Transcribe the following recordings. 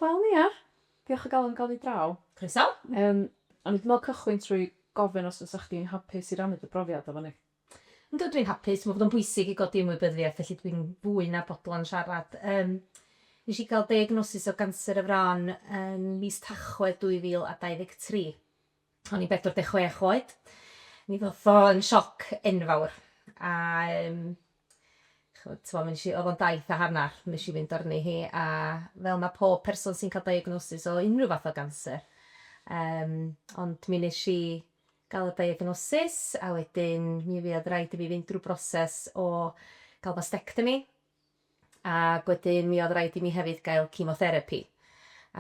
Wel ia. Diolch o galon am gael ni draw. Croeso. Yym, o'n i 'di meddwl cychwyn trwy gofyn os fysa chdi'n hapus i rannu dy brofiad efo ni? Yndw, dwi'n hapus. Dwi'n meddwl bod o'n bwysig i godi ymwybyddiaeth, felly dwi'n fwy na bodlon siarad. Yym, nes i gael diagnosis o ganser y fron yn mis Tachwedd 2023. O'n i'n 46 oed. Mi ddoth o yn sioc enfawr a yym ch'mod t'mo' nesh i... O'dd o'n daith a hannar nesh i fynd arni hi a fel ma' pob person sy'n ca'l diagnosis o unryw fath o ganser yym ond mi nesh i ga'l y diagnosis a wedyn mi fuodd raid i fi fynd drw broses o ga'l mastectomy Ac wedyn mi oedd raid i mi hefyd gael cemotherapi.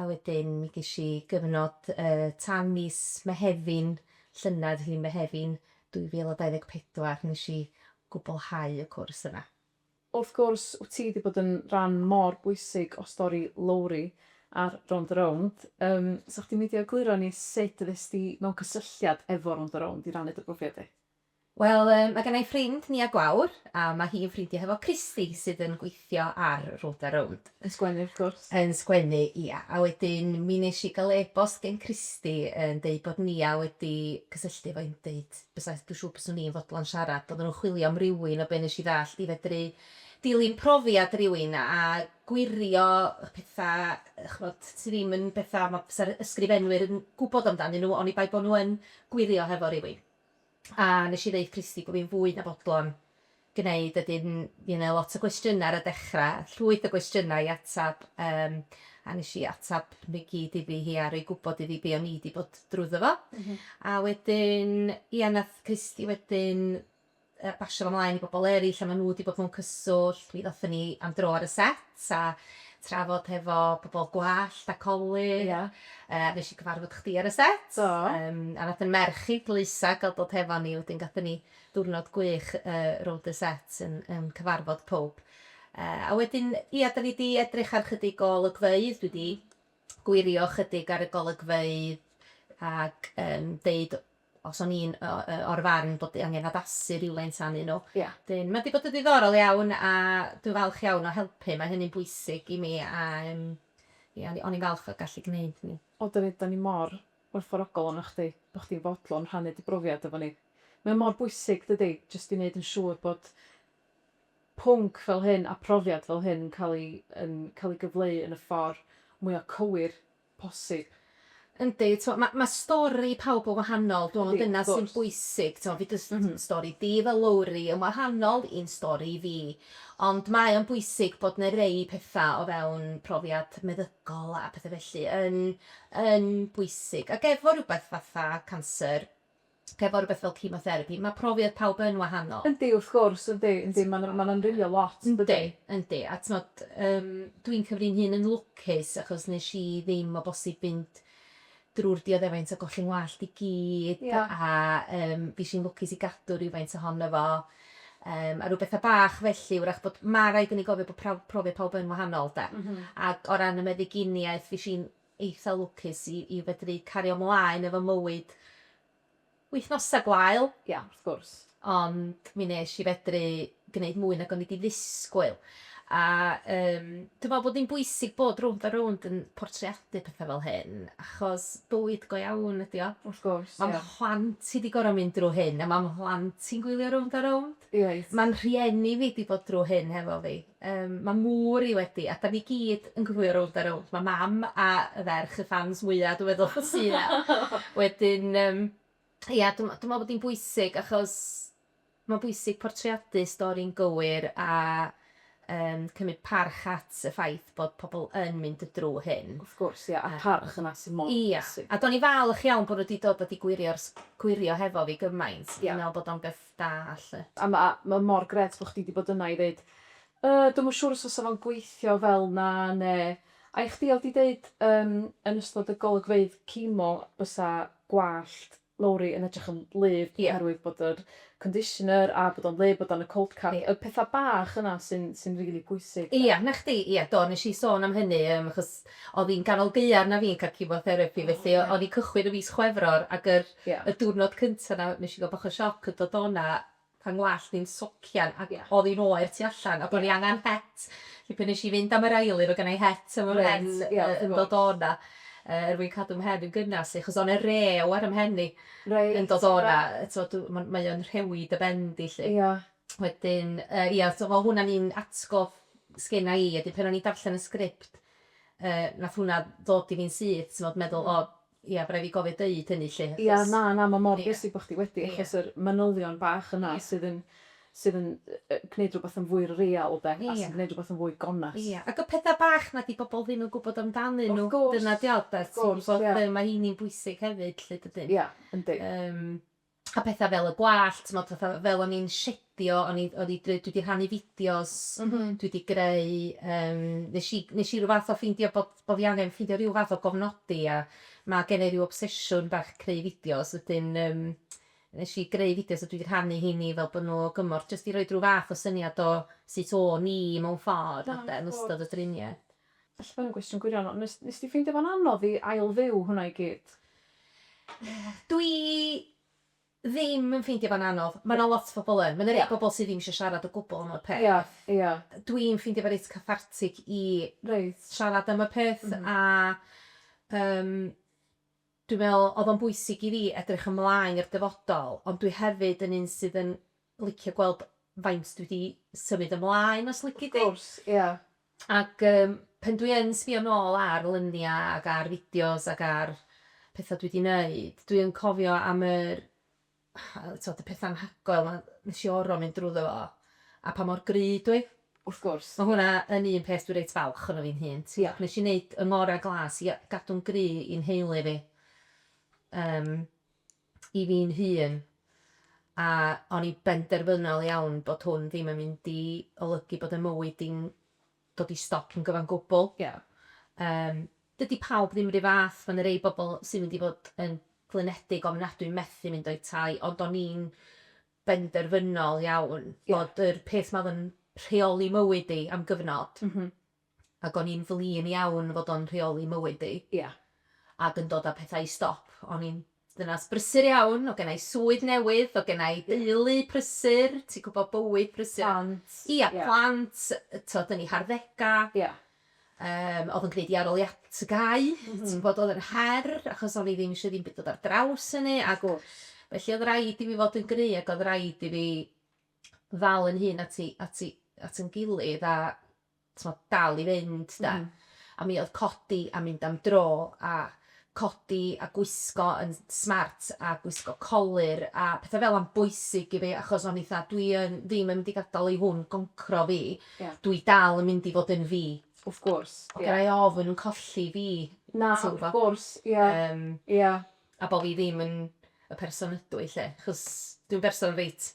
A wedyn mi ges i gyfnod yy tan mis Mehefin, llynedd, felly Mehefin 2024, nes i gwblhau y cwrs yna. Wrth gwrs, wt ti 'di bod yn ran mor bwysig o stori Lowri ar Rownd a Rownd. Yym, 'sa chdi'n meindio egluro i ni sut ddes di mewn cysylltiad efo Rownd a Rownd i rannu dy brofiad di? Wel, yy, ma' gennai ffrind, Nia Gwawr, a ma' hi'n ffrindia hefo Christy, sydd yn gweithio ar Rownd a Rownd. Yn sgwennu, wrth gwrs. Yn sgwennu, ia. A wedyn, mi nesh i ga'l e-bost gen Christy yn deud bod Nia wedi cysylltu efo i yn deud bysa, dwi siŵr byswn i yn fodlon siarad, oddan nhw'n chwilio am rywun, o be' nesh i ddallt, i fedru dilyn profiad rywun a gwirio y petha, ch'mod, sy ddim yn betha ma' fysa'r ysgrifenwyr yn gwbod amdanyn nhw, oni bai bo' nhw yn gwirio hefo rywun. A nes i ddeud Christy bo fi'n fwy na bodlon gneud a 'dyn fi yn neu' lot o gwestiyna ar y dechra, llwyth o gwestiyna i atab yym a nes i atab nw i gyd iddi hi a roi gwbod iddi be' o'n i 'di bod drwyddo fo. A wedyn ia nath Christy wedyn yy basio fo mlaen i bobol eryll a ma' nw 'di bod mewn cyswllt, mi ddothon ni am dro ar y set. a trafod hefo pobl gwallt a colur. Ia. Yy a nesh i cyfarfod chdi ar y set. Do. Yym a nath 'yn merch i dlwysa ga'l dod hefo ni wedyn gathon ni diwrnod gwych yy rownd y set yn yn cyfarfod powb. Yy a wedyn ia 'dan ni 'di edrych ar chydig o olygfeydd dwi 'di gwirio chydig ar y golygfeydd ag yym deud os o'n i'n o- yy o'r farn bod angen addasu rywfaint arnyn nhw. Ia. Wedyn ma' 'di bod yn ddiddorol iawn a dwi falch iawn o helpu, mae hynny'n bwysig i mi a yym ia o'n i o'n i'n falch o gallu gneud hynny. O 'dan ni 'dan ni mor werthfawrogol ohonoch chdi bo' chdi'n fodlon rhannu dy brofiad efo ni. Mae o mor bwysig dydi? Jyst i neud yn siŵr bod pwnc fel hyn a profiad fel hyn yn ca'l 'i yn ca'l 'i gyfleu yn y ffor mwya cywir posib. Yndi, t'mo' ma' ma' stori pawb yn wahanol, dwi me'wl ma' dyna sy'n bwysig, t'mo' fi jyst yn stori di fel Lowri yn wahanol i'n stori i fi, ond mae o'n bwysig bod 'na rei petha' o fewn profiad meddygol a petha' felly yn yn bwysig, ag efo rwbeth fatha canser, hefo rhywbeth fel chemotherapi, mae profiad pawb yn wahanol. Yndi, wrth gwrs, yndi, yndi, ma'n ma'n amrywio lot, yn dydi? Yndi, yndi, a t'mod, yym, dwi'n cyfri fy nhun yn lwcus achos nesh i ddim o bosib fynd drw'r dioddefaint o golli ngwallt i gyd... Ia. ...a yym fish i'n lwcus i gadw rywfaint ohono fo, yym, a rw betha bach felly, 'w'rach bod, ma' raid i ni gofio bod prawf- profiad pawb yn wahanol 'de? M-hm. Ag o ran y meddyginiaeth fish i'n eitha lwcus i i fedru cario mlaen efo mywyd wythnosa gwael. Ia, wrth gwrs. Ond mi nesh i fedru gneud mwy nag o'n i di ddisgwyl. A yym dwi me'wl bod hi'n bwysig bod rownd a rownd yn portreadu petha fel hyn achos bywyd go iawn ydi o. Wrth gwrs, ia. Ma' mhlant i di goro mynd drw hyn a ma' mhlant i'n gwylio rownd a rownd. Reit. Ma'n rhieni fi di bod drw hyn hefo fi. Yym ma' mor i wedi a 'dan ni gyd yn gwylio rownd a rownd. Ma' mam a y ferch y ffans mwya dwi meddwl sy 'na. Wedyn yym ia dwi m- dwi me'wl bod 'i'n bwysig achos ma'n bwysig portreadu stori'n gywir a yym cymyd parch at y ffaith bod pobol yn mynd y drw hyn. Wrth gwrs ia a'r parch yna sy mor bwysig. Ia a do'n i'n falch iawn bo' n'w 'di dod a 'di gwirio'r s- gwirio hefo fi gymaint. Ia. Dwi'n me'wl bod o'n beth da 'lly. A ma ma mor gret bo chdi di bod yna i ddeud yy dwi'm yn siŵr os fysa fo'n gweithio fel 'na ne a i chdi odd di deud yym yn ystod y golygfeydd cimo bysa gwallt Lowri yn edrych yn wlyb Ie. oherwydd bod yr conditioner a bod o'n wlyb bod o'n y cold cap Ie. y petha bach yna sy'n sy'n rili pwysig 'de. Ia 'na chdi ia do nes i sôn am hynny yym achos odd i'n ganol gaeaf na fi'n ca'l cimo therapi felly o- o'n i'n cychwyn y fis Chwefror ag yr Ie. Y diwrnod cynta 'na nesh i ga'l bach o sioc yn dod o 'na pan ngwallt i'n socian ac odd i'n oer tu allan a bo' ni angan het. Felly pan nesh i fynd am yr awyr o' gennai het yn fy mhen yn dod o 'na yy er mwyn cadw mhen yn gynas 'lly achos o' 'ne rew ar 'y mhen i. Reit. Yn dod o 'na yy t'mod dw- ma'n mae o'n rhewi dy ben di 'lly. Ia. Wedyn yy ia so fel hwnna'n un atgof sgenna i a 'dyn pan o'n i'n darllen y sgript yy nath hwnna ddod i fi'n syth t'mod meddwl o Ia, by' rai' fi gofio deud hynny 'lly, achos... Ia, na, na, ma' mor bwysig bo' chdi wedi, achos yr manylion bach yna sydd yn sydd yn gneud rhywbeth yn fwy real 'de, a sy'n gneud rhywbeth yn fwy gonest. Ia, ac y petha bach 'na 'di bobl ddim yn gwbod amdanyn nhw, dyna 'di o de, ti'n gwbod, ma' heini'n bwysig hefyd 'lly dydyn? Ia, yndi. Yym. a petha fel y gwallt t'mod fatha fel o'n i'n shedio o'n i o'n i dwi dwi 'di rhannu fideos... M-hm. ...dwi 'di greu yym nesh i nesh i ryw fath o ffeindio bod bo' fi angen ffeindio ryw fath o gofnodi a ma' gen i ryw obsesiwn bach creu fideos wedyn yym nesh i greu fideos a dwi 'di rhannu rheiny fel bo' n'w o gymorth jyst i roid ryw fath o syniad o sut o'n i mewn ffordd... Da iawn. ...ynde yn ystod y drinieth. Falle bod yn gwestiwn gwirion, ond nes, nes di ffeindio fo'n anodd i ail-fyw hwnna i gyd? Dw i ddim yn ffeindio fo'n anodd. Ma' 'na lot o bobl yn. Ma' 'na rei pobl sydd ddim isio siarad o gwbl am y peth. Ia, ia. Dw i'n ffeindio fo reit cathartic i... Reit. ...siarad am y peth a yym Dwi'n meddwl oedd o'n bwysig i fi edrych ymlaen i'r dyfodol, ond dwi hefyd yn un sydd yn licio gweld faint dwi 'di symud ymlaen os lici di. Wrth gwrs, ia. Ac yym pan dwi yn sbio nôl ar luniau ac ar fideos ac ar pethau dwi 'di 'neud, dwi yn cofio am yr t'od y petha anhygoel 'ma nes i oro mynd drwddo fo, a pa mor gry dw i. Wrth gwrs. Ma' hwnna yn un peth dwi reit falch ohono fi'n hun, t'mo'. Ia. Nes i neud 'y ngora' glas i gadw'n gry i 'nheulu fi, yym, i fi'n hun, a o'n i benderfynol iawn bod hwn ddim yn mynd i olygu bod 'y mywyd i'n dod i stop yn gyfan gwbl. Ie. Yym, dydi pawb ddim 'r un fath, ma' 'na rei bobl sy'n mynd i fod yn flinedig, ofnadwy, methu mynd o'u tai, ond o'n i'n benderfynol iawn bod yr peth 'ma o'dd yn rheoli mywyd i am gyfnod, ac o'n i'n flin iawn fod o'n rheoli mywyd i, ac yn dod â pethau i stop, o'n i'n Dynas brysur iawn, o' gennai swydd newydd, o' gennai deulu prysur, ti'n gwybod, bywyd prysur. Plant. Ia, plant, tibod, yn eu harddegau. Ia. Yym, oedd yn gwneud i arholiad TGAU, ti'n gwybod, oedd yn her, achos o'n i ddim eisiau ddim byd dod ar draws hynny, ac felly oedd rhaid i fi fod yn gry, ac oedd rhaid i fi ddal yn hun at i- at i- at yn gilydd, a t'mod, dal i fynd 'de. A mi o'dd codi a mynd am dro a codi a gwisgo yn smart a gwisgo colur a petha fel 'a'n bwysig i fi achos o'n i 'tha dwi yn ddim yn mynd i gadal i hwn goncro fi. Ie. Dwi dal yn mynd i fod yn fi. Wrth gwrs, ie. Gennai ofn colli fi. Na, wrth gwrs, ie. Yym. Ie. a bo' fi ddim yn y person ydw i 'lly, achos dwi'n berson reit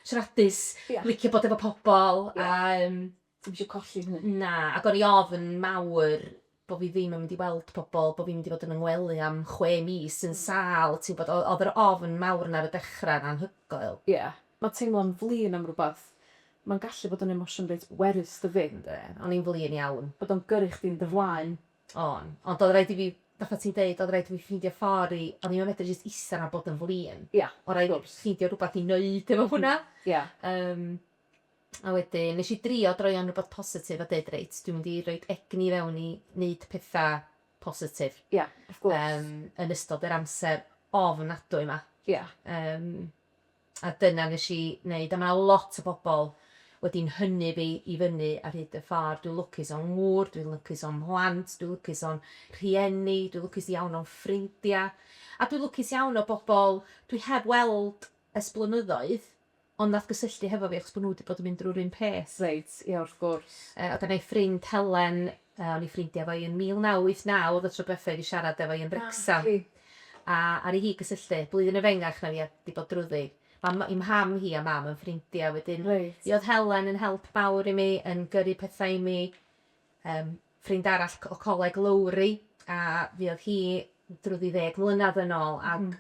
siaradus... Ia. ...licio bod efo pobol a yym... Ti'm isio colli hynny. Na, ac o'n i ofn mawr bo' fi ddim yn mynd i weld pobol, bo' fi'n mynd i fod yn 'y ngwely am chwe mis yn sâl, ti'n gwbod, o- o'dd yr ofn mawr 'na ar y dechra 'n anhygoel. Ia, ma' teimlo'n flin am rwbath, ma'n gallu bod yn emosiwn reit bwerus dydi? Yndi, o'n i'n flin iawn. Bod o'n gyrru chdi'n dy flaen O'n. Ond oedd rhaid i fi, fatha ti'n deud, oedd rhaid i fi ffeindio ffordd i... O'n i'm yn medru jyst ista 'na a bod yn flin. Ia, wrth gwrs. Oedd rhaid i fi ffeindio rhywbeth i wneud efo hwnna. Ia. Yym, a wedyn, wnes i drio droi o'n rywbeth positif a deud, 'Reit, dwi'n mynd i roi egni i fewn i wneud pethau positif... Ia, wrth gwrs. ...yn ystod yr amser ofnadwy 'ma. Ia. Yym. A dyna nes i neud, a ma' 'na lot o bobl wedi 'nhynnu fi i fyny ar hyd y ffordd. Dwi'n lwcus o'n ngŵr, dwi'n lwcus o'n mhlant, dwi'n lwcus o'n rhieni, dwi'n lwcus iawn o'n ffrindia', a dwi'n lwcus iawn o bobl dwi heb weld ers blynyddoedd, ond nath gysylltu hefo fi achos bo' nhw 'di bod yn mynd drwy'r un peth. Reit, ie wrth gwrs. Yy o' gynna i ffrind Helen O'n i ffrindia fo i yn 1989 oedd y tro dwetha i fi siarad efo i yn Wrecsam. Naci. A aru hi gysylltu. Blwyddyn efengach na fi a di bod drwddi. Ma ma i mham hi a mam yn ffrindia wedyn. Reit. Mi oedd Helen yn help mawr i mi yn gyrru petha i mi. Yym ffrind arall o coleg Lowri a fuodd hi drwddi ddeg mlynadd yn ôl ag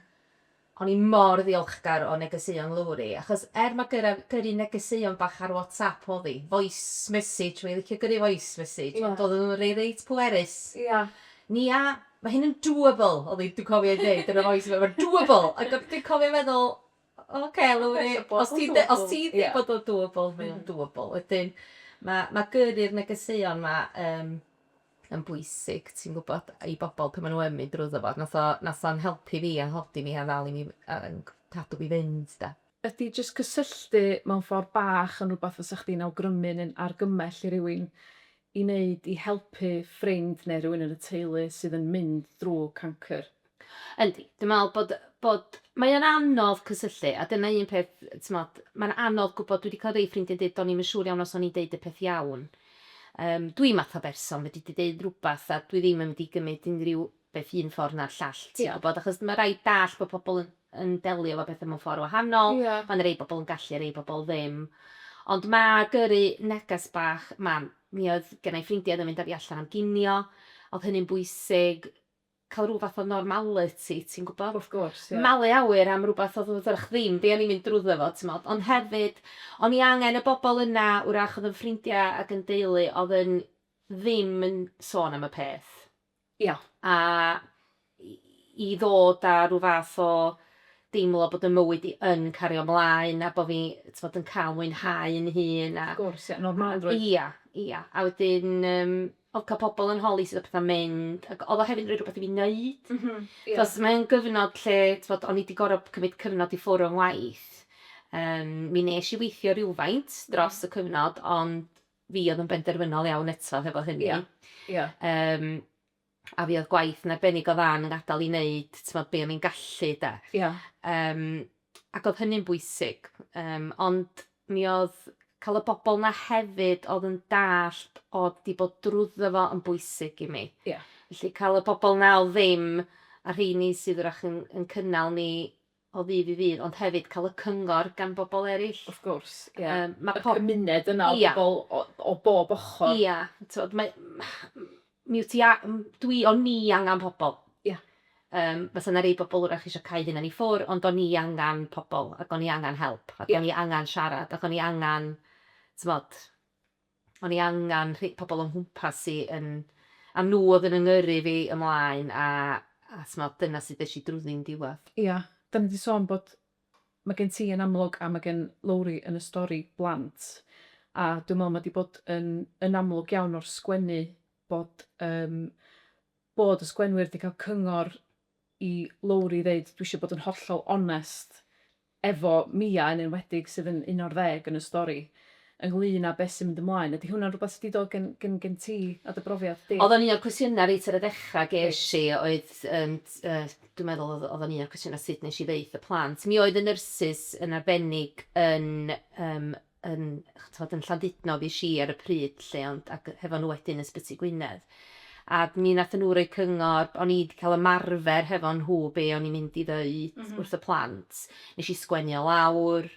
O'n i mor ddiolchgar o negeseuon Lowri, achos er ma gyra gyrru negeseuon bach ar WhatsApp odd i, voice message, o'n i licio gyrru voice message, ond odden nhw'n rei reit pwerus. Ia. Nia, ma hyn yn doable! odd i, dwi'n cofio i ddeud yn y voice ma fe'n doable! Ag o'n, dwi'n cofio meddwl, oce Lowri, os ti'n de- os ti'n deud bod o'n doable, mae o'n doable. Wedyn, ma ma gyrru'r negeseuon ma yym, yn bwysig, ti'n gwybod, i bobl pan maen nhw yn mynd drwyddo fo. Nath o, nath o'n helpu fi a hodi mi a ddal i mi, a yn cadw fi fynd, de. Ydy jyst cysylltu mewn ffordd bach yn rhywbeth fysa chdi'n awgrymu neu'n argymell i rywun i wneud i helpu ffrind neu rywun yn y teulu sydd yn mynd drwy cancr? Yndi, dwi'n meddwl bod, bod, mae o'n anodd cysylltu a dyna un peth, timod, mae'n anodd gwybod, dwi wedi cael rhai ffrindiau'n dweud do'n i'm yn siŵr iawn os o'n i'n deud y peth iawn. Yym, dwi'n math o berson, fedri di ddeud rhywbeth a dwi ddim yn mynd i gymryd unrhyw beth un ffordd na'r llall, ti'n gwybod, achos mae rhaid dall bod pobl yn, yn delio efo pethau mewn ffordd wahanol, mae'n rhai bobl yn gallu, rhai bobl ddim. Ond mae gyrru neges bach, mam, mi oedd gennau ffrindiau oedd yn mynd â fi allan am ginio, oedd hynny'n bwysig, cael rhyw fath o normaliti, ti'n gwybod? Wrth gwrs, ie. Malu awyr am rywbeth oedd yn ddrych ddim be o'n i'n mynd drwyddo fo, timod. Ond hefyd, o'n i angen y bobl yna, wrach oedd yn ffrindiau ac yn deulu, oedd yn ddim yn sôn am y peth. Ie. A i ddod â rhyw fath o deimlo bod 'y mywyd i yn cario 'mlaen a bod fi, timod, yn cael mwynhau 'yn hun a... Wrth gwrs, ie. Normalrwydd. Ie, ie. A wedyn, yym, o ca'l pobol yn holi sut o petha'n mynd ag odd o hefyd yn roi rwbeth i fi neud. M-hm ie. Achos mae o'n gyfnod lle t'mod o'n i 'di gor'o' cymryd cyfnod i ffwr' o'n ngwaith yym mi nesh i weithio rywfaint dros y cyfnod ond fi odd yn benderfynol iawn eto hefo hynny. Ia ia. Yym a fi odd gwaith yn arbennig o dda yn 'yn ngadal i neud t'mod be' o'n i'n gallu 'de. Ia. Yym. ac oedd hynny'n bwysig. Yym, ond mi oedd cael y bobl 'na hefyd oedd yn dallt oedd 'di bod drwyddo fo yn bwysig i mi. Ie. Felly cael y bobl 'na oedd ddim, a rheini sydd wrach yn yn cynnal ni o ddydd i ddydd, ond hefyd cael y cyngor gan bobl eraill. Wrth gwrs, ie. Yym, ma' pob-... Y cymuned yna o bobl o o bob ochr. Ia, t'mod, mae Mi wyt ti a- m- dwi, o'n ni angan pobl. Ia. Yym, fysa 'na rei bobl 'w'rach isio cau hunan i ffwr', ond o'n ni angan pobl, ac o'n i angan help. Ia. Ac o'n i angan siarad, ac o'n i angan, t'mod, o'n i angan rhe- pobl o'n nghwmpas i yn... A nhw oedd yn 'y ngyrru fi ymlaen, a, a t'mod, dyna sut ddes i drwddi'n diwedd. Ia, 'dan ni 'di sôn bod Mae gen ti yn amlwg a mae gen Lowri yn y stori blant a dwi'n meddwl mae 'di bod yn yn amlwg iawn o'r sgwennu bod yym bod y sgwennwyr 'di cael cyngor i Lowri ddeud dwi eisiau bod yn hollol onest efo Mia yn enwedig sydd yn un o'r ddeg yn y stori. ynglŷn â beth sy'n mynd ymlaen. Ydy hwnna'n rhywbeth sy 'di dod gen gen gen ti a dy brofiad di? O'dd o'n un o'r cwestiyna reit ar y dechra gesh i oedd yym yy dwi'n meddwl o'dd o'dd o'n un o'r cwestiyna sut nesh i ddeutha y plant. Mi oedd y nyrsys yn arbennig yn yym yn t'mod yn Llandudno fuesh i ar y pryd 'lly ond ag hefo nhw wedyn yn Sbyty Gwynedd a mi nathon nhw roi cyngor o'n i 'di ca'l ymarfer hefo nhw be' o'n i'n mynd i ddeud wrth y plant. Nesh i sgwennu o lawr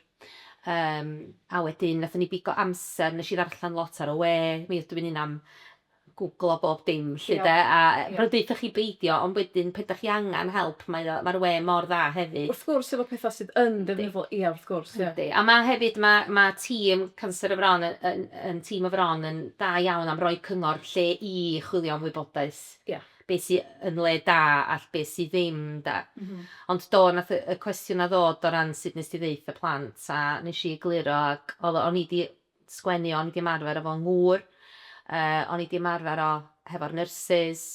Yym, a wedyn nathon ni bigo amser, nesh i ddarllan lot ar y we, mi ydw i'n un am gwglo bob dim 'lly 'de, a fel deuthoch chi beidio, ond wedyn pe' 'dach chi angan help mae o ma'r we mor dda hefyd. Wrth gwrs efo petha sydd yn ddefnyddiol ia wrth gwrs ia. Yndi, a ma' hefyd ma' ma' tîm Canser y Fron yn yn yn tîm y Fron yn da iawn am roi cyngor lle i chwilio am wybodaeth. Ia. be sy yn le da a be sy ddim 'de. Ond do, nath y y cwestiwn 'na ddod o ran sud nes di ddeutha y plant a nes i egluro ac o'dd o o'n i di sgwennu o o'n i di ymarfer efo ngŵr yy o'n i di ymarfer o hefo'r nyrsys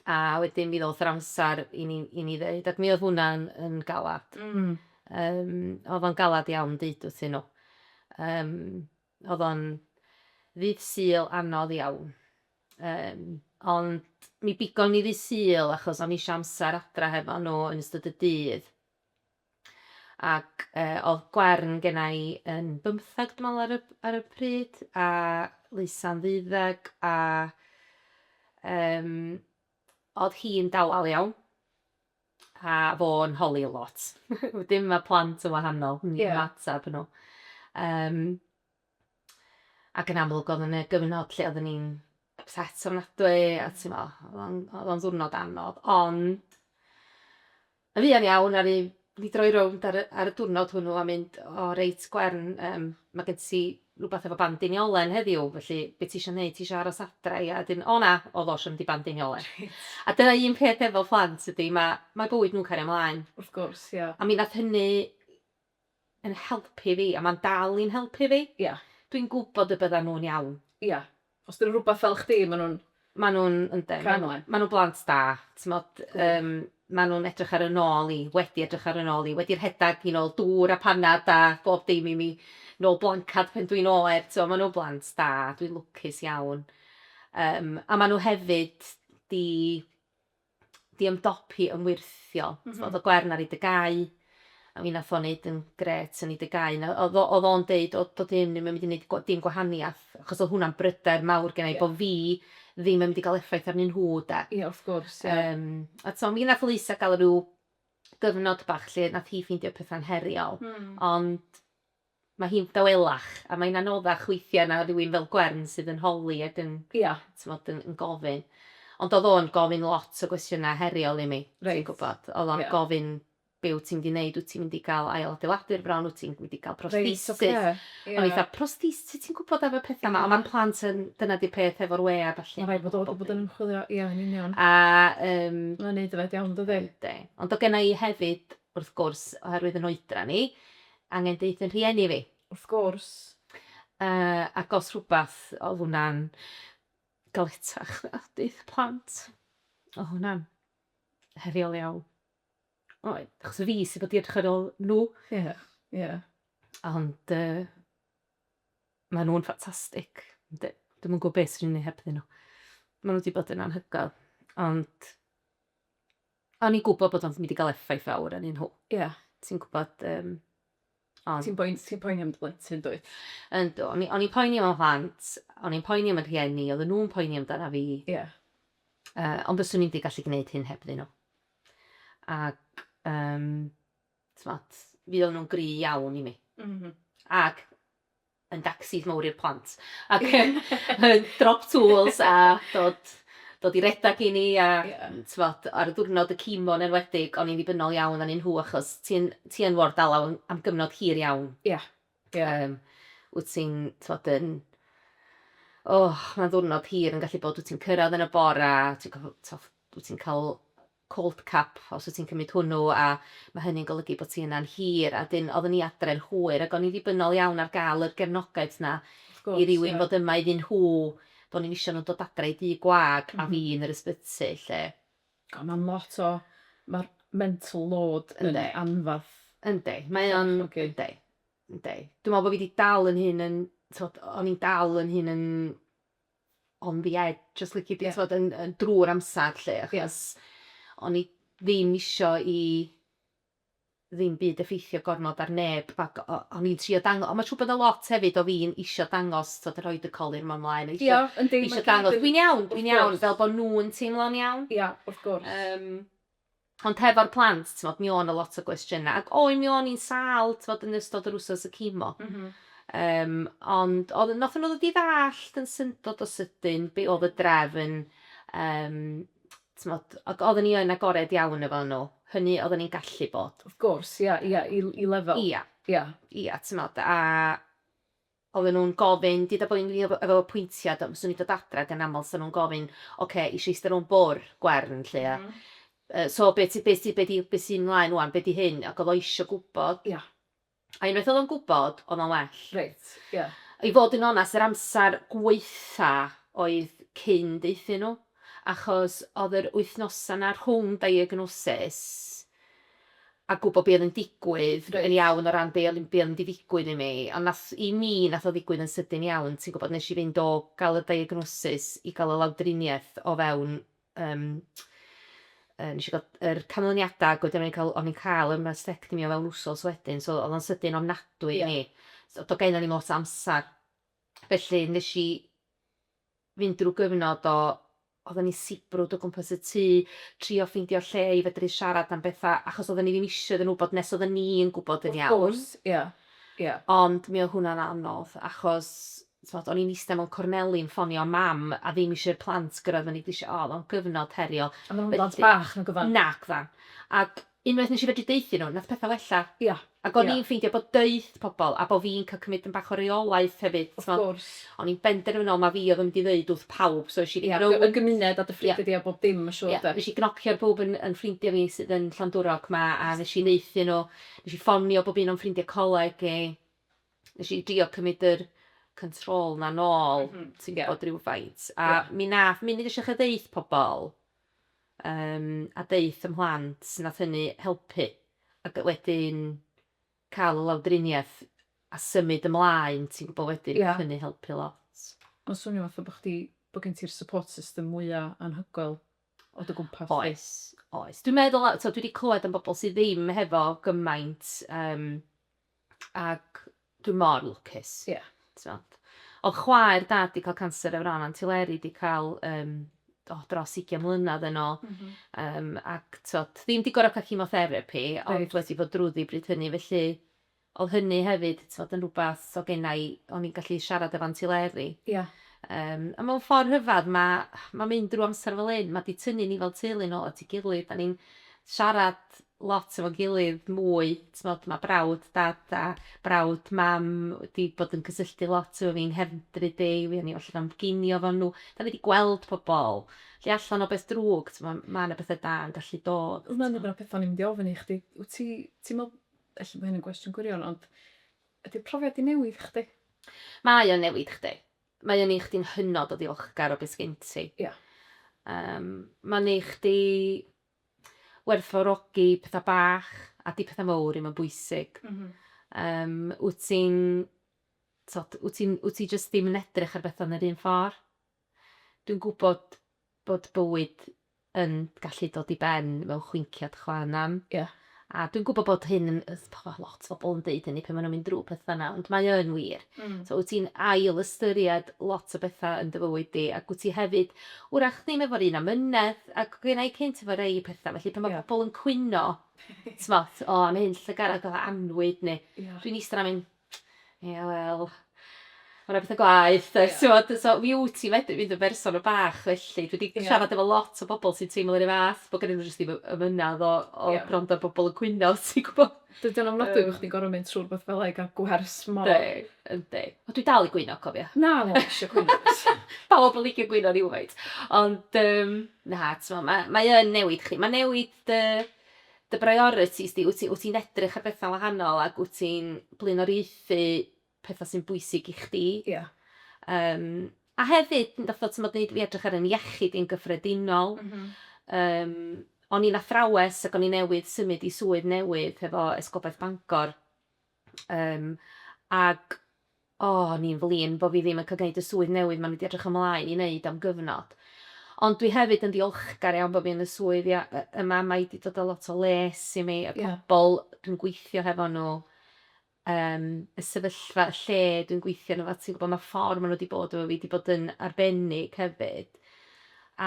a wedyn mi ddoth yr amsar i ni i ni ddeud ac mi o'dd hwnna yn yn galad. Hmm. Yym o'dd o'n galad iawn deud wrthyn nhw. Yym. Oedd o'n ddydd Sul anodd iawn. Yym, ond mi bigon ni ddydd Sul achos o'n i eisiau amser adra hefo nhw yn ystod y dydd. Ac yy, oedd Gwern genna i yn bymtheg dwi'n meddwl ar y, ar y pryd, a Leusa'n ddeuddeg, a yym, oedd hi'n dawel iawn. a fo'n holi lot. Wedyn mae plant yn wahanol yn yeah. ymateb nhw. Um, ac yn amlwg oedd yn y gyfnod lle oedden ni'n upset ofnadwy a mm. ti'n meddwl, oedd o'n ddwrnod anodd. Ond, y fuan iawn ar un ni droi rownd ar, ar y diwrnod hwnnw a mynd, o reit, Gwern, um, mae gen ti rwbath efo bandeiniolen heddiw, felly be' tisio neud, tisio aros adra ia? A 'dyn, o na, o ddosh i'm 'di bandeiniolen. A dyna un peth efo phlant ydi ma' mae bywyd nhw'n cario mlaen. Wrth gwrs, ia. A mi nath hynny yn helpu fi a ma'n dal i'n helpu fi. Ia. Dwi'n gwbod y byddan nhw'n iawn. Ia. Os dyn nhw'n rhywbeth fel chdi, maen nhw'n... Maen nhw'n, yndyn, maen nhw yn. Maen nhw'n blant da, timod, yym, maen nhw'n edrych ar 'y nôl i, wedi edrych ar 'y nôl i, wedi rhedeg i'n ôl dŵr a panad a bob dim i mi, nôl blancad pan dwi'n oer, timod, maen nhw'n blant da, dwi'n lwcus iawn. Yym, a maen nhw hefyd 'di 'di ymdopi yn wyrthiol. M-hm. T'mod o' Gwern ar ei dy gau, a mi nath o neud yn grêt yn ei dy gau na- o'dd o- o'dd o'n deud o do'dd hyn ddim yn mynd i neud gw- dim gwahaniath, achos o'dd hwnna'n bryder mawr genna i... Ie. ...bo' fi ddim yn mynd i ga'l effaith arnyn nhw 'de. Ie wrth gwrs ie. Yym a t'mo' mi nath Louisa ga'l ryw gyfnod bach lle nath hi ffeindio petha'n heriol. Hmm. Ond Mae hi'n dawelach a mae'n anoddach weithiau na rhywun fel Gwern sydd yn holi ac yn, ia, timod, yn yn gofyn. Ond oedd o'n gofyn lot o gwestiynau heriol i mi, ti'n gwybod. Oedd o'n gofyn, be wyt ti'n mynd i wneud, wyt ti'n mynd i gael ailadeiladu'r fron, wyt ti'n mynd i gael prosthesis? O'n i fatha, prosthesis, sut ti'n gwybod am y pethau 'ma? Ond mae plant yn, dyna 'di'r peth efo'r we a ballu. Mae'n rhaid bod o wedi bod yn ymchwilio, ia, yn union. A yym... Mae'n wneud yfed iawn, yn dydi? Yndi. Ond oedd genna i hefyd, wrth gwrs, oherwydd yn oedran i, angen deud fy rhieni fi. Wrth gwrs. Yy ac os rhywbeth oedd hwnna'n galetach na deud y plant. Oedd hwnna'n heriol iawn. Oedd. Achos fi sydd wedi edrych ar ôl nhw. Ie. Yeah. Ie. Yeah. Ond uh, maen nhw'n ffantastig. Dwi'n yn gwybod beth sy'n ei hebddyn nhw. Maen nhw wedi bod yn anhygoel. Ond O'n i'n gwybod bod o'n mynd i gael effaith fawr arnyn nhw. Ie, ti'n gwybod, yym, ond... Ti'n poen- ti'n poeni am dy blentyn, dwyt? Yndw, o'n i- o'n i'n poeni am fy mhlant, o'n i'n poeni am fy rhieni, oedden nhw'n poeni amdana fi. Ie. Yy, ond fyswn i'm 'di gallu gwneud hyn hebddyn nhw. Ac, yym, t'mod, fuon nhw'n gry' iawn i mi. M-hm. Ac, yn dacsis mowr i'r plant ac yn yn drop tools a dod dod i redag i ni a yeah. t'mod ar y ddiwrnod y cimo yn enwedig o'n i'n ddibynnol iawn anyn nhw achos ti'n ti yn ward dalaw am gyfnod hir iawn. Ie. Yeah. Ie. Yeah. Um, wyt ti'n t'mod yn oh, mae'n ddiwrnod hir yn gallu bod wyt ti'n cyrraedd yn y bora, ti'n wyt ti'n cael cold cup os wyt ti'n cymryd hwnnw a mae hynny'n golygu bod ti yna'n hir a wedyn oeddwn i adre'n hwyr ac o'n i'n ddibynnol iawn ar gael yr gefnogaeth yna i rywun fod yma iddyn nhw, do'n i'm isio nhw'n dod adre i dŷ gwag a fi yn yr ysbyty 'lly. O mae'n lot o, mae'r mental load yn anferth. Yndi, mae o'n, yndi, yndi. Dwi'n meddwl bod fi 'di dal yn hyn yn, tibod, o'n i'n dal yn hyn yn on the edge os lici di t'od yn yn drw'r amsar 'lly achos o'n i ddim isio i ddim byd effeithio gormod ar neb ac o- o'n i'n trio dang- on' ma' siŵr bod o lot hefyd o fi'n isio dangos t'od rhoid y colur 'ma mlaen a isio... Ia yndi. ...isio dangos dwi'n iawn dwi'n iawn fel bo' nw'n teimlo'n iawn. Ia wrth gwrs. Yym. Ond hefo'r plant, t'mod, mi o' 'na lot o gwestiyna', ac o, mi o'n i'n sâl, t'mod, yn ystod yr wsos y cimo. Yym, ond o'dd... Nothon nhw ddod i ddallt yn syndod o sydyn be' o'dd y drefn, yym, t'mod, ac odden ni yn agored iawn efo nhw, hynny odden ni'n gallu bod. Wrth gwrs, ia, ia, i i lefel... Ia. Ia. Ia, t'mod, a Oedden nhw'n gofyn, deuda bo' fi'n wir efo apwyntiad, do, fyswn i'n dod adra ag yn aml 'sa nhw'n gofyn, ocê, isio ista rownd bwr', Gwern, 'lly, ia? Yy, so be' ti, be' sy, be' 'di, be' sy mlaen ŵan, be' 'di hyn? Ac o'dd o isio gwbod. Ia. A unwaith o'dd o'n gwbod, o'dd o'n well. Reit, ia. I fod yn onast, yr amsar gwaetha' oedd cyn deuthyn nhw. achos oedd yr wythnosau 'na rhwng diagnosis a gwybod be oedd yn digwydd yn iawn o ran be oedd be oedd mynd i ddigwydd i mi, ond wnaeth... i mi wnaeth o ddigwydd yn sydyn iawn, ti'n gwybod, wnes i fynd o gael y diagnosis i gael y lawdriniaeth o fewn yym yy wnes i gael yr canlyniadau ac wedyn o'n i'n cael o'n i'n cael y mastectomy o fewn wsos wedyn, so oedd o'n sydyn ofnadwy i mi. So doedd genna i'm lot o amser, felly wnes i... fynd drwy gyfnod o, oedden ni'n sibrwd o gwmpas y tŷ, trio ffeindio lle i fedru siarad am bethau, achos oedden ni ddim isio iddyn nhw wybod nes oedden ni yn gwybod yn iawn. Wrth gwrs, ie, ie. Ond mi oedd hwnna'n anodd, achos, tibod, o'n i'n ista mewn corneli yn ffonio Mam, a ddim isio i'r plant gyrraedd fyny grisiau, o, oedd o'n gyfnod heriol. A maen nhw'n blant bach, nag oeddan? Nag oeddan. Ac Unwaith nes i fedru deuthyn nhw, nath petha wella. Ia. Ac o'n i'n ffeindio bod deuth pobl a bo' fi'n cael cymryd dipyn bach o reolaeth hefyd, t'mod. Wrth gwrs. O'n i'n benderfynol ma' fi oedd yn mynd i ddeud wrth pawb, so esh i Ia, dy- y gymuned a dy ffrindia di a bob dim ma' siŵr 'de. Ia, nesh i gnocio ar bawb yn yn ffrindia fi sydd yn Llandwrog 'ma a nesh i neuthyn nhw, nesh i ffonio bob un o'n ffrindia coleg i, nesh i drio cymryd yr control 'na nôl ti'n gwbod rywfaint a mi nath munud nesh i ddechra deuth pobl, Yym a deuth 'y mhlant nath hynny helpu ac wedyn ca'l y lawdriniaeth a symud ymlaen ti'n gwbo wedyn nath hynny helpu lot. Ma'n swnio fatha bo' chdi bo' gen ti'r support system mwya anhygoel o dy gwmpas di. Oes oes dwi'n meddwl a t'o' dwi 'di clywed am bobl sy ddim hefo gymaint yym Ac dwi mor lwcus. Ie. T'mod? O'dd chwaer dad 'di ca'l canser efo ran antileri 'di ca'l yym o dros ugian mlynadd yn ôl. M-hm. Yym ac t'od ddim 'di gor'o' ca'l chemotherapi... Reit. ...ond wedi bod drwddi bryd hynny felly o'dd hynny hefyd t'mod yn rwbath so gennai o'n i'n gallu siarad efo antileri. Ia. Yym a mewn ffor rhyfadd ma' ma' mynd drw amser fel 'yn ma' 'di tynnu ni fel teulu nôl at 'i gilydd 'dan ni'n siarad lot efo'n gilydd mwy, t'mod ma' brawd dad a brawd mam wedi bod yn cysylltu lot efo fi yng nghefndryd Dei, fuon ni allan am ginio efo nhw, 'dan ni wedi gweld pobl, felly allan o beth drwg t'mod ma' 'na bethe da yn gallu dod t'mod. Hwnna'n un o'r petha o'n i'n mynd i ofyn i chdi, wt ti ti'n me'wl, ella bo hyn yn gwestiwn gwirion ond ydi'r profiad 'di newid chdi? Mae o'n newid chdi, mae o'n neu' chdi'n hynod o ddiolchgar o be' sgin ti. Ia. Yym ma'n neu' chdi werthfawrogi petha bach a 'di petha mowr ddim yn bwysig. Yym, wyt ti'n, t'od, wyt ti'n, wyt ti jyst ddim yn edrych ar betha yn yr un ffor? Dwi'n gwybod bod bywyd yn gallu dod i ben mewn chwinciad chwa'n nam. Ie. A dwi'n gwybod bod hyn yn... mae lot o bobl yn deud hynny pan maen nhw'n mynd drwy pethau yna, ond mae o yn wir. Mm. So wyt ti'n ail ystyried lot o bethau yn dy fywyd di, ac wyt ti hefyd, wrach ddim efo'r un amynedd, ac gen i cynt efo rei pethau, felly pan mae yeah. pobl yn cwyno, ti'n o, oh, am hyn llygarad, fatha anwyd, neu yeah. dwi'n eistedd am hyn, Ie wel, ma' 'na petha gwaeth does t'mod so mi wt ti medru mynd yn berson yn bach felly dwi 'di siarad efo lot o bobol sy'n teimlo 'run fath bo' gynnyn n'w jyst ddim y ymynedd o o grando ar bobol yn cwyno ti'n gwbo? Dydi o'n ofnadwy bo' chdi'n gor'o' mynd trw' rwbath fela i ga'l gwers mor... Yndi yndi. Ond dwi dal i gwyno cofia. Na ddo fi isio cwyno does. Pawb yn licio gwyno rywfaint ond yym na t'mo' ma' mae yn newid chi ma' newid dy dy briorities di, wyt ti wyt ti'n edrych ar bethau'n wahanol ac wyt ti'n blaenoriaethu pethau sy'n bwysig i chdi. Ia. Yym a hefyd fatha t'mod neud fi edrych ar 'yn iechyd i'n gyffredinol. M-hm. Yym o'n i'n athrawes ac o'n i newydd symud i swydd newydd hefo Esgobaeth Bangor Yym, ac, o, o'n i'n flin bo' fi ddim yn ca'l gneud y swydd newydd 'ma o'n i 'di edrych ymlaen i neud am gyfnod. Ond dwi hefyd yn ddiolchgar iawn bo' fi yn y swydd ia- yy yma, mae 'di dod â lot o les i mi, y pobol dwi'n gweithio hefo nhw, yym, y sefyllfa, y lle dwi'n gweithio yno fo, ti'n gwbod, ma'r ffor ma' nhw 'di bod efo fi 'di bod yn arbennig hefyd,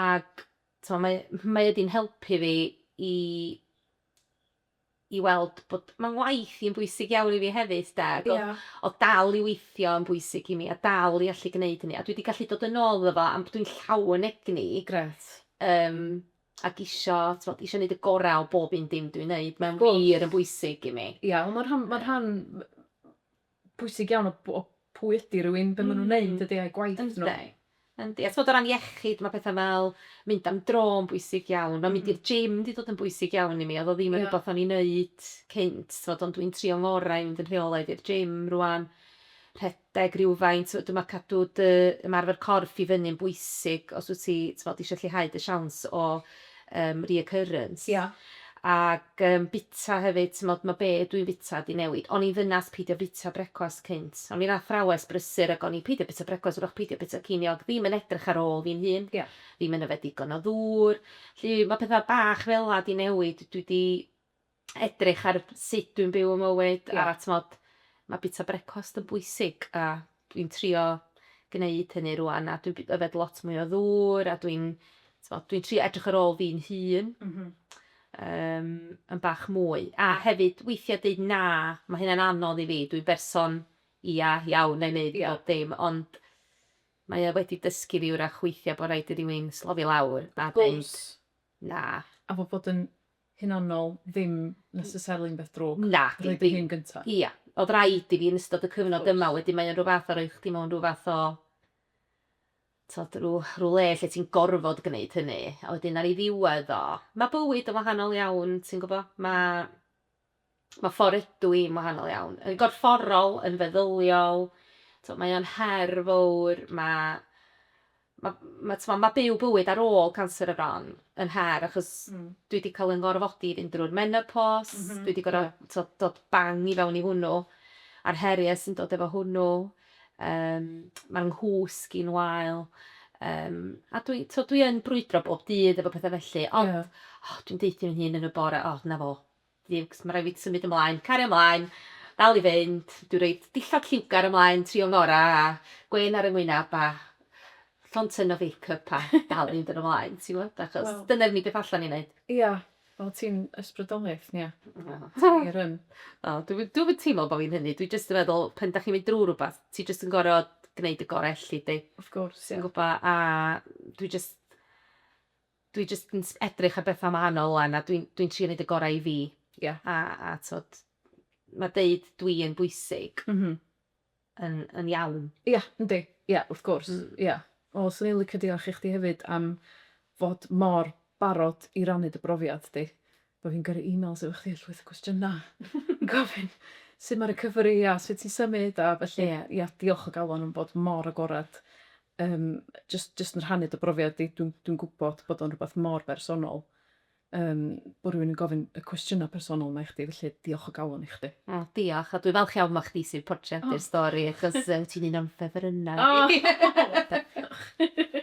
ac, t'mo', mae mae o 'di'n helpu fi i i weld bod, mae ngwaith i yn bwysig iawn i fi hefyd 'de, ac oedd... Ie. ...oedd dal i weithio yn bwysig i mi, a dal i allu gwneud hynny, a dwi 'di gallu dod yn ôl iddo fo, am dwi'n llawn egni... Grêt. ...yym, ac isio, t'mod, isio neud y gorau o bob un dim dwi'n neud, mae'n wir yn bwysig i mi. Ie, ond mae'n rhan, mae'n rhan, pwysig iawn o b- o pwy ydi rywun, be' ma' nw'n neud ydi ai gwaith nw. Yndi. Yndi. A t'mod o ran iechyd ma' petha fel mynd am dro'n bwysig iawn. Ma' mynd i'r gym 'di dod yn bwysig iawn i mi. Odd o ddim yn rwbath o'n i'n neud cynt t'mod ond dwi'n trio ngorau i fynd yn rheolaidd i'r gym rŵan. Rhedeg rywfaint t'mod dwi me'wl cadw dy ymarfer corff i fyny'n bwysig os wt ti t'mod isio lleihau dy siawns o yym reoccurrence. Ia. Ag yym bita hefyd t'mod ma' be' dwi'n bita 'di newid. O'n i'n ddynas peidio bita brecwast cynt. O'n i'n athrawes brysur ag o'n i'n peidio bita brecwast wrach peidio bita ceiniog ddim yn edrych ar ôl fi'n hun. Ia. Ddim yn yfed digon o ddŵr. 'Lly ma' petha bach fela 'di newid dwi 'di edrych ar sut dwi'n byw y mywyd yeah. a tmod, mae bita brecwast yn bwysig a dwi'n trio gwneud hynny rwan a dwi'n yfed lot mwy o ddŵr a dwi'n dwi trio edrych ar ôl fi'n hun. Mm -hmm. um, yn bach mwy. A hefyd, weithiau dweud na, mae hynna'n anodd i fi. Dwi'n berson ia iawn neu wneud yeah. bob dim, ond mae o wedi dysgu fi wrach weithiau bod rhaid i rywun slofi lawr a dweud na. A fod bod yn hunanol ddim necessarily yn beth drwg. Nadi. Rhoi dy hun gynta. Ia. O'dd raid i fi yn ystod y cyfnod yma, wedyn mae o'n rhyw fath o rhoi chdi mewn rhyw fath o, t'od, rhyw rhyw le lle ti'n gorfod gneud hynny. A wedyn ar ei ddiwedd o, ma' bywyd yn wahanol iawn, ti'n gwbo? Ma', Mae ffordd ydw i'n wahanol iawn. Yn gorfforol, yn feddyliol, t'mo' mae o'n her fowr, ma' ma' ma' t'mo' ma' byw bywyd ar ôl canser y fron yn her achos... Hmm. ...dwi 'di ca'l 'yn ngorfodi i fynd drwy'r menopos... M-hm ie. ...dwi 'di gor'o' t'o' dod bang i fewn i hwnnw a'r herie sy'n dod efo hwnnw yym ma' 'nghwsg i'n wael yym a dwi t'o' dwi yn brwydro bob dydd efo petha felly ond... Ie. ...o dwi'n deutho fy hun yn y bore 'o 'na fo. Jiwcs, ma' raid fi symud ymlaen, cario ymlaen, dal i fynd, dwi roid dillad lliwgar ymlaen tri o ngora a gwên ar 'y ngwynab a llond tun o fake up a dal i fynd yn ymlaen ti'mod achos dyna'r unig beth allan i neud. Ia, wel ti'n ysbrydoliaeth Nia. Ti wir yn. O dwi'm yn dwi'm yn teimlo bo fi'n hynny dwi jyst yn meddwl pan 'dach chi'n mynd drw' rwbath ti jyst yn gor'o' gneud y gore elli di. Wrth gwrs ia. Ti'n gwbo a dwi jyst Dwi jyst yn edrych ar bethau wahanol ŵan a dwi'n dwi'n trio neud y gorau i fi. Ie. A a t'od ma' deud dwi yn bwysig. M-hm. Yn yn iawn. Ia yndi ia wrth gwrs. Hmm. Ia. O swn i'n licio diolch i chdi hefyd am fod mor barod i rannu dy brofiad di. Bo' fi'n gyrru emails efo chdi a llwyth o gwestiyna yn gofyn sut ma' recovery a sut ti'n symud a felly. Ia. Ia diolch o galon am bod mor agored Yym, jyst jyst yn rhannu dy brofiad di, dwi'n dwi'n gwybod bod o'n rhywbeth mor bersonol, yym, bod rhywun yn gofyn y cwestiynau personol 'ma i chdi, felly diolch o galon i chdi. O, diolch, a dwi'n falch iawn mod chdi sy'n portreadu'r stori, achos ti'n un o'n ffefrynnau i.